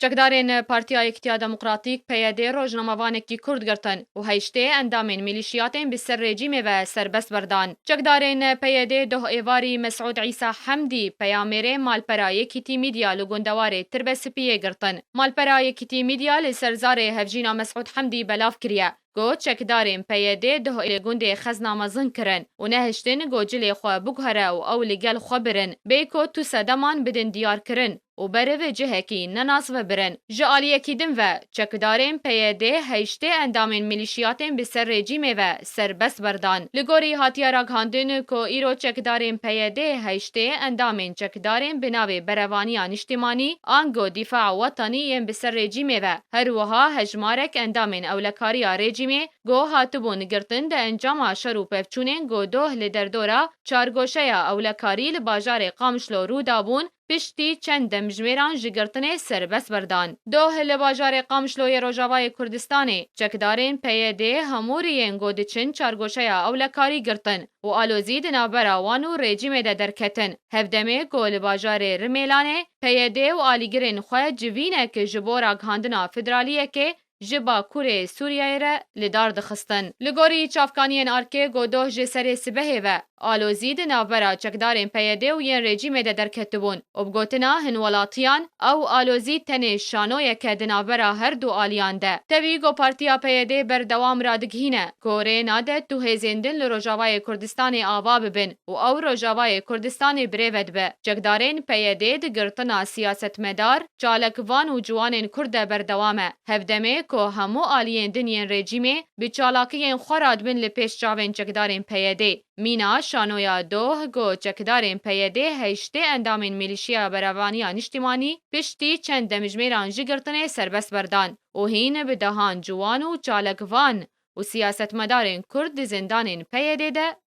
Çekdarên Partiya Yekîtiya Demokratîk, PYD, rojnamevanekî Kurd girtin û heştê endamên mîlîşiyatên bi ser rejîmê ve serbest berdan. Çekdarên PYD doh êvarî Mesûd Îsa Hemdî, peyamêrê Malpera Yekîtî Mîdya li gundewarê Tirbespiyê girtin. Malpera Yekîtî Mîdya li ser zarê hevjîna Mesûd Hemdî belav kiriye. Got, Çekdarên PYD'ê duh li gundê Xezna mezin kirin û nehiştin got cilê xwe biguhere û ew li gel xwe birin. Bê ku tu sedeman bidin diyarkirin û beriv cihekî nenas ve birin. Ji aliyekî din ve, çekdarên PYD'ê heştê endamên milîşiyatên bi ser rejîmê ve serbest berdan. Li gorî hatiye ragihandin ku îro çekdarên PYD'ê heştê endamên çekdarên bi navê Berevaniya Niştimanî, ango Dîfa Wetanî yên bi ser rejîmê ve, Her wiha hejmarek endamên ewlekariya rejîmê ku hatibûn girtin di encama şer û pevçûnên ku doh li derdora çargoşeya ewlekarî li bajarê Qamişlo rû dabûn, piştî çend demjimêran ji girtinê serbest berdan. Doh li bajarê Qamişlo yê Rojavayê Kurdistanê, çekdarên PYD'ê hemû riyên ku diçin çargoşeya ewlekarî girtin û alozî di navbera wan û rejîmê de derketin. Hevdemê ku li bajarê Rimêlanê PYD û alîgirên xwe civînek ji bo ragihandina federaliyekê ji Bakurê Sûriyeyê re li dar dixistin. Li gorî çavkaniyên ARK'ê ku doh ji serê sibehê ve alozî di navbera çekdarên PYD û yên rejîmê de derketibûn û bi gotina hin welatiyan ew alozî tenê şanoyeke di navbera her du aliyan de tevî ku partiya PYD berdewam radigihîne ku rê nade tu hêzên din li Rojavayê Kurdistanê ava bibin. û ew Rojavayê Kurdistanê birêve dibe. Çekdarên PYD'ê di girtina siyasetmedar, çalakvan û ciwanên Kurd de berdewam e. Hevdemê ku hemû aliyên din yên rejîmê bi çalakiyên xwe re dibin li pêş çavên çekdarên PYD'ê. Mîna şanoya doh ku çekdarên PYD'ê heştê endamên Milîşeya Berevaniya Niştîmanî piştî çend demjimêran ji girtinê serbest berdan û hîn bi dehan ciwan û çalakvan û siyasetmedarên Kurd di zindanên PYD'ê de